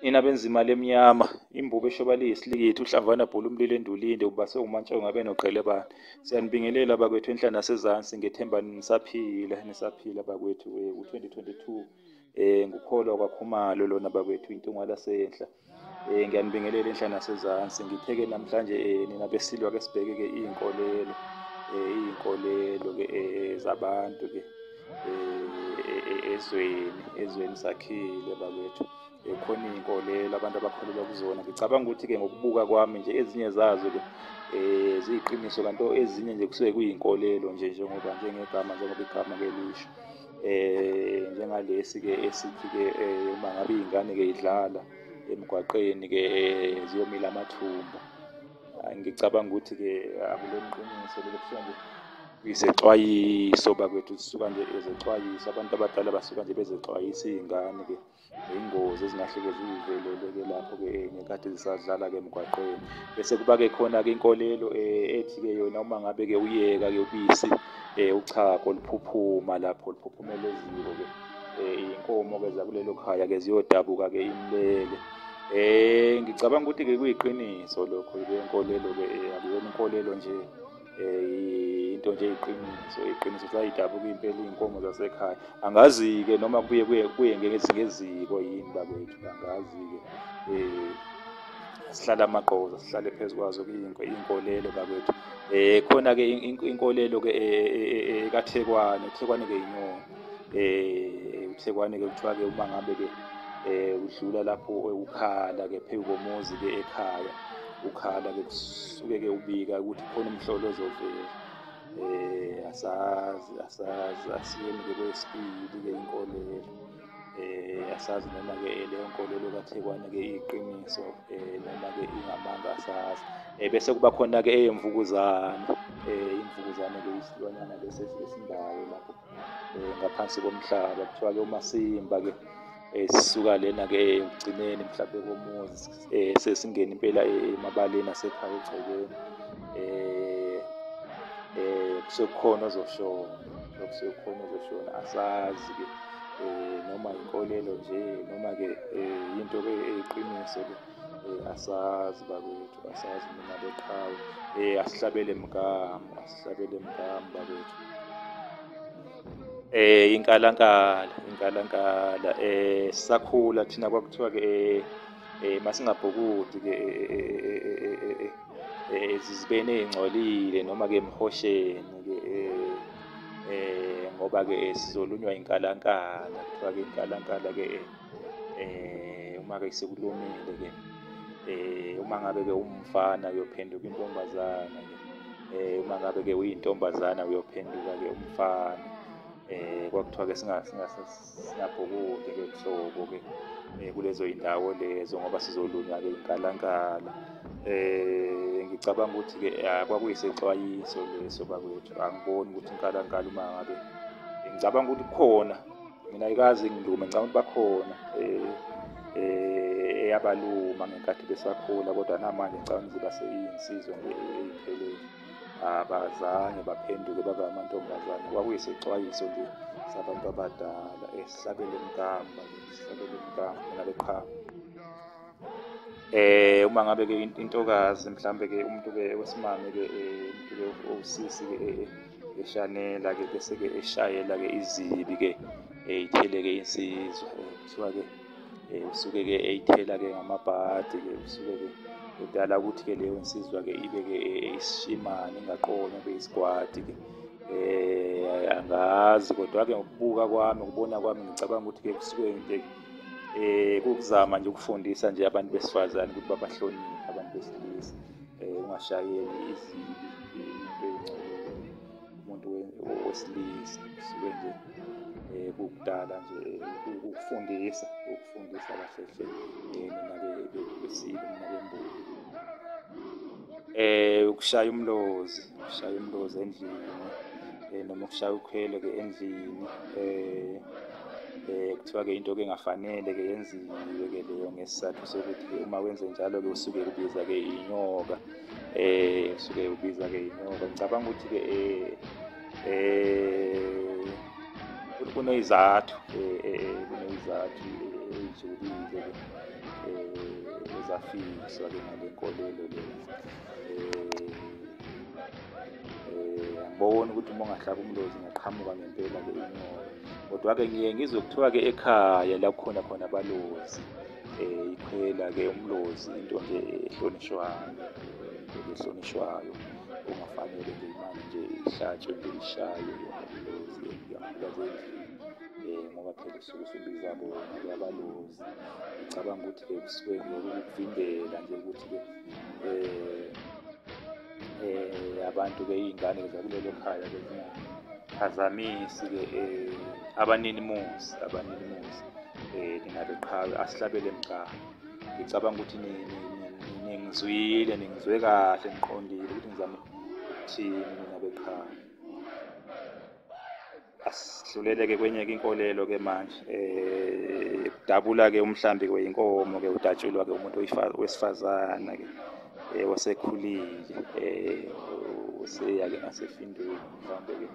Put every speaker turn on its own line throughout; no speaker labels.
Nina benza imali emnyama, imbubo eshoba liyisilikithi, uhlamvana bhula umlilo endulinde, ubase umantsha ungabe noqhele bani. Siyanibingelela bakwethu enhla nasezansi, ngethemba nisaphila, nisaphila bakwethu. Eh, u-2022 eh ngukholwa kwakhumalo lona bakwethu intungwa lasenhla. Eh ngiyanibingelela enhlana nasezansi ngitheke namhlanje eh nina besilwa ke sibheke ke izinkolelo eh izinkolelo ke eh, zabantu ke eh ezweni ezweni sakhile babethu ekhona eh, izinkolelo abantu abakholelwa kuzona ngicabanga ukuthi ke ngokubuka kwami nje ezinye zazo ke eh ziyiqiniso kanti ezinye nje kusuke kuyinkolelo nje njengoba njengegama njengoba igama ke lisho eh njengalesi ke esithi ke eh, uma ngabe izingane ke idlala emgwaqeni ke eh, ziyomila amathumba ah, ngicabanga ukuthi ke akuleqiniso lelo kusho nje izexwayiso bakwethu zisuka nje ezexwayiso abantu abadala basuka nje bezexwayisa izingane ke Ingozi ezingahleke zivelele-ke lapho-ke eh, ngenkathi zisadlala-ke emgwaqeni bese kuba-ke khona-ke inkolelo um ethi-ke yona uma ngabe-ke uyeka-ke ubisi um uchago luphuphuma lapho luphuphumela eziko-ke um iy'nkomo-ke zakulelo khaya-ke ziyodabuka-ke imlele um ngicabanga ukuthi-ke kuyiqiniso lokho-ke inkolelo-ke um akuyona inkolelo nje eh, into nje iqiniso iqiniso sayidabuka impela iy'nkomo zasekhaya angazi-ke noma kubuye kuye kuye ngezingeziko yini bakwethu angazi-ke um sihlala amagqoza sihlale phezu kwazo iy'nkolelo bakwethu um khona-ke inkolelo-ke ekathekwane uthekwane-ke yinyona eh uthekwane ke kuthiwa ke uma ngabe ke eh udlula lapho ukhala ke phezu komuzi ke ekhaya ukhala ke kusuke ke ubika ukuthi khona umhlolo ozovela eh asazi asazi asiyeni ke kwesibili ke inkolelo eh asazi noma ke eh, leyo nkolelo kaThekwane ke iqiniso eh noma ke ingamanga asazi eh bese kuba khona ke eyemvukuzane eh imvukuzane ke isilwanyana bese esindayo lapho eh ngaphansi komhlaba kuthiwa ke umasimba ke esisuka eh, lena ke ekugcineni mhlawumbe komuzi eh sesingena impela eh, emabaleni asekhaya egcekeni eh eh kusekhona ozoshona kusekhona ozoshona asazi ke eh noma inkolelo nje noma ke eh, into ke eyiqiniso ke eh, asazi bakwethu asazi mina beqhawe eh asihlabele mgamu asihlabele mgamu bakwethu eh inkalankala inkalankala eh sakhula thina kwakuthiwa ke eh, eh masingabhukudi ke ezizibeni ezingcolile noma ke emhosheni ke eh ngoba ke sizolunywa inkalankala kuthiwa ke inkalankala ke eh uma ke sekulomile ke eh uma ngabe ke umfana uyophenduka intombazana ke eh uma ngabe ke uyintombazana uyophenduka ke umfana eh kwakuthiwa ke singa siyabhukude-ke kuhlobo-ke um eh, kulezo yindawo lezo ngoba sizolunywa-ke inkalankala um ngicabanga ukuthi-ke ah, kwakuyisexwayiso leso bakwethu angiboni ukuthi inkalankala uma ngabe ngicabanga ukuthi kukhona mina ayikazi ngilume ngicabanga ukuthi bakhona um eyabaluma ngenkathi besakhula kodwa namanje ngicabanga ukuthi baseyiyinsizo nje eyiphelele abazange baphenduke babe amantombazane kwakuyisixwayiso nje sabantu abadala esabele mkamba esabele mkamba nale qhamu eh uma ngabe ke intokazi mhlambe ke umuntu ke wesimame ke eh, umuntu ke owusisi ke eh, eh, eshanela ke bese ke eshayela ke izibi ke eyithele ke insizwa kuthiwa ke eh, usuke ke eyithela ke ngamabhadi ke usuke ke kudala ukuthi ke leyo nsizwa ke ibe ke eh, isishimane ingaqomi ibe isigwadi ke eh angazi kodwa ke ngokubuka kwami ukubona kwami ngicabanga ukuthi ke kusuke nje eh kukuzama nje ukufundisa nje abantu besifazane ukuthi babahloniphe abantu besilisa eh ungashayeli izibi umuntu wesilisa sike nje um kukudala nje ukufundisa ukufundisa kahle hle um nake besile nake mbuka eh ukushaya umlozi ukushaya umlozi endlini eh noma ukushaya ukhwele ke endlini eh eh kuthiwa ke into ke engafanele ke yenziwe ke leyo ngesizathu sokuthi uma wenze njalo ke usuke ubiza ke inyoka eh suke ubiza ke inyoka ngicabanga ukuthi ke eh eh kunezathu eh, eh, eh kunezathu eh, ezulile eh ezafikiswa ke ngalenkolelo le eh ngibona ukuthi uma ungahlaba umlozi ngaqhamuka ngempela ke inyoka kodwa-ke ngiye ngizwe kuthiwa-ke ekhaya la kukhona khona abalozi Eh, iqhela-ke umlozi into nje ehlonishwayo ehlonishwayo kungafanele nje imali nje ihlatshwe nje ishaywe umlozi yakhulazendlini um ngoba phela usuke usubiza bona kuyabalozi ngicabanga ukuthi-ke kusuke nje ukuvimbela nje ukuthi-ke um eh abantu ke izingane zakulelo khaya ke phazamisi ke eh abanini muzi abanini muzi eh ningabe qhawe asihlabele mqhawe ngicabanga ukuthi ningizwile ningizwe kahle ngiqondile ukuthi ngizama ukuthini ninabe qhawe asidlulele-ke kwenye-ke inkolelo-ke manje um eh, dabula-ke umhlambi-ke weyinkomo-ke udatshulwa-ke umuntu wesifazane-ke um eh, osekhulile um useya-ke ngasefindweni mhlawumbe-ke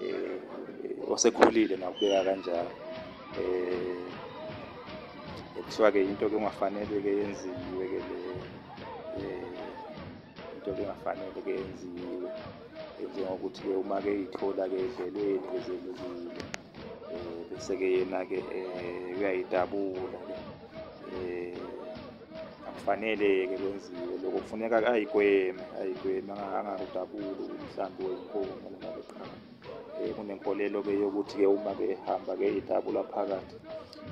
um osekhulile nakubeka kanjalo um kuthiwa-ke yinto-ke ongafanele-ke yenziwe-ke leyo um into ekungafanele ke yenziwe njengokuthi ke uma ke ithola ke edlelweni ke zelukile um bese ke yena ke um uyayidabula ke um akufanele ke kwenziwe loko kufuneka ayigweme ayigweme angakudabuli umhlambi wenkomo noma beqhamu um kunenkolelo ke yokuthi ke uma ke ehamba ke idabula phakathi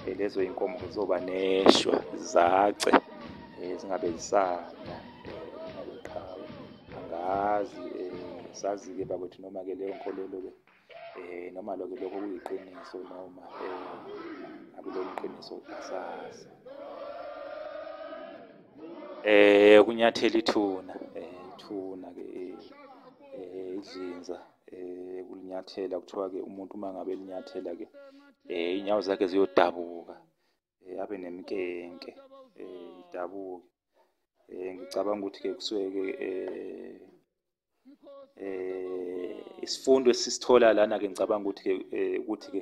um lezo iy'nkomo zizoba neshwa zace um zingabe zisanda angazi um sazi-ke bakwethu noma-ke leyo nkolelo-ke um noma loke lokho kuyiqiniso noma um akulona iqiniso asazi um kunyathela ithuna um ithuna-ke um idlinza um kulinyathela kuthiwa-ke umuntu uma ngabe linyathela-ke um iy'nyawo zakhe ziyodabuka um abe nemkenke um idabuke um ngicabanga ukuthi-ke kusuke-ke um um isifundo esisithola lana-ke ngicabanga ukuthi-ke um ukuthi-ke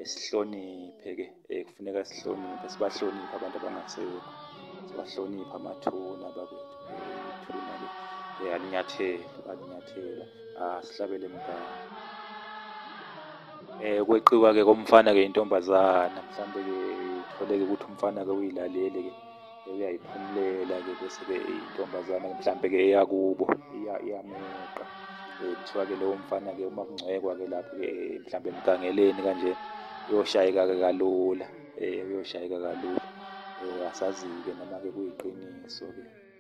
esihloniphe-ke um kufuneka sihloniphe sibahloniphe abantu abangasekho sibahloniphe amathuna bakwethu ithuna-ke um alinyathela alinyathela asihlabele mgama Eh kweqiwa ke komfana ke intombazana mhlambe ke itholeke ukuthi umfana ke uyilalele ke uyayiphumulela ke bese ke intombazana mhlambe ke eyakubo iyameqa eh, kuthiwa ke lowo mfana ke uma kungcwekwa ke lapho ke eh, mhlambe emgangeleni kanje uyoshayeka ke kalula eh uyoshayeka kalula eh, asazi ke noma ke kuyiqiniso ke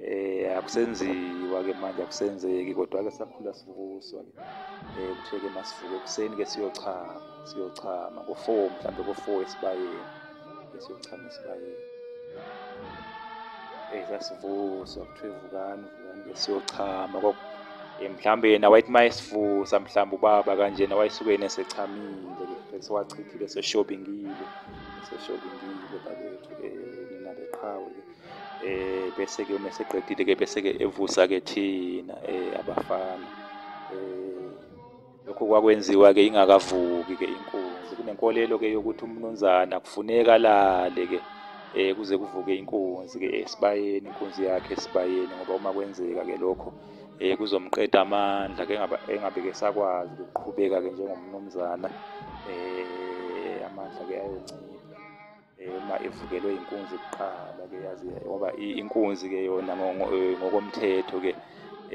Eh akusenziwa ke manje akusenzeki kodwa ke sakhula sivuswa ke. Eh kutheke masivuke ekuseni ke siyochama, siyochama ngo4 mhlambe ngo4 esibayeni. Siyochama esibayeni. Eh sasivuswa kuthiwe vukani, vukani ke siyochama eh, mhlambe yena wayethi mayesivusa mhlambe ubaba kanjena wayesuke yena esechamile ke sewachithile seshobingile seshobingile bakwethu eh nina beqhawe eh bese ke uma seqedile ke bese ke evusa ke thina eh abafana eh lokho kwakwenziwa ke ingakavuki ke inkunzi kunenkolelo ke yokuthi umnunzana kufuneka lale ke eh kuze kuvuke inkunzi ke esibayeni inkunzi yakhe esibayeni ngoba uma kwenzeka ke lokho eh kuzomqeda amandla ke engabe ke sakwazi ukuqhubeka ke njengomnumzana eh amandla ke ayoncipha Eh, uma evukelwe inkunzi kuqala ke yazi ngoba inkunzi ke yona eh, ngokomthetho ke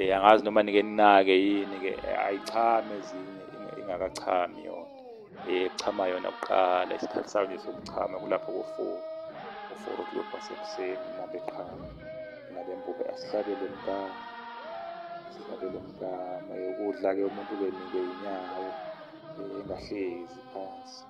eh, angazi noma nike ninake yini ke ayichame ezinye ingakachami yona echama yona kuqala isikhathi sayo nje sokuchama kulapho kofour kofour o'clock wasekuseni nabeqhama nabembuka asihlabele mkama sihlabele mkama ukudla ke umuntu ubenike inyawo engahlezi phansi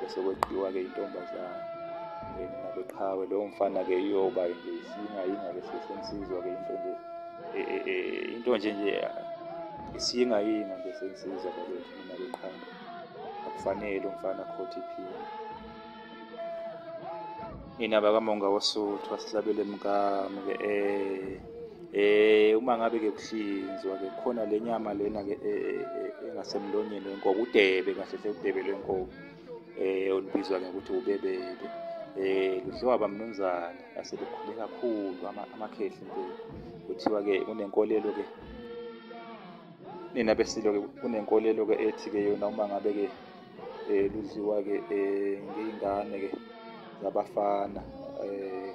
bese kweqiwa-ke intombazane then nabeqhawe lowo mfana-ke iyoba nje isinga yinga ke sesensizwa-ke into nje e, e, e, into nje nje isinga yinga nje sensizwa bakwethu mina beqhawe akufanele umfana akhothi iphini nina bakamonga wosuthu asihlabele mkamu-ke um Eh uma ngabe ke kuhlinzwa ke khona lenyama lena ke e, e, e, engasemlonyeni wenkomo udebe kahle hle udebe lwenkomo eh olubizwa ngokuthi ubebebe eh ludliwa bamnumzana asebekhule kakhulu amakhehli impela kuthiwa ke kunenkolelo ke nina besilo ke kunenkolelo ke ethi ke yona uma ngabe ke eh ludliwa ke eh ngeyingane ke zabafana eh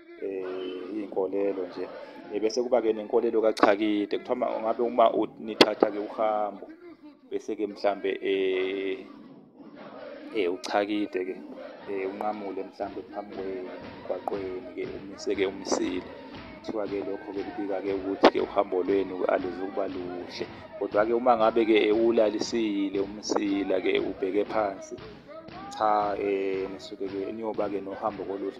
iy'nkolelo nje bese kuba-ke nenkolelo kachakide kuthiwa ngabe uma nithatha-ke uhambo bese-ke mhlambe um um uchakide-ke um unqamule mhlambe phambi kwemgwaqweni-ke umise-ke umisile kuthiwa-ke lokho-ke kubika-ke ukuthi-ke uhambo lwenu aluzukuba luhle kodwa-ke uma ngabe-ke uwulalisile umsila-ke ubheke phansi cha um nisuke-ke niyoba-ke nohambo koluhle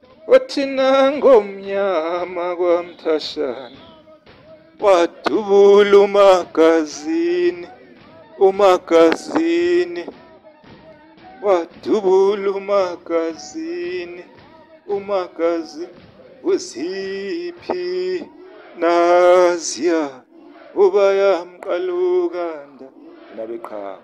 wathina ngomnyama kwamthashana wadubula umagazini umagazini wadubula umagazini umagazini uziphi naziya ubayamqalukanda nabeqhawe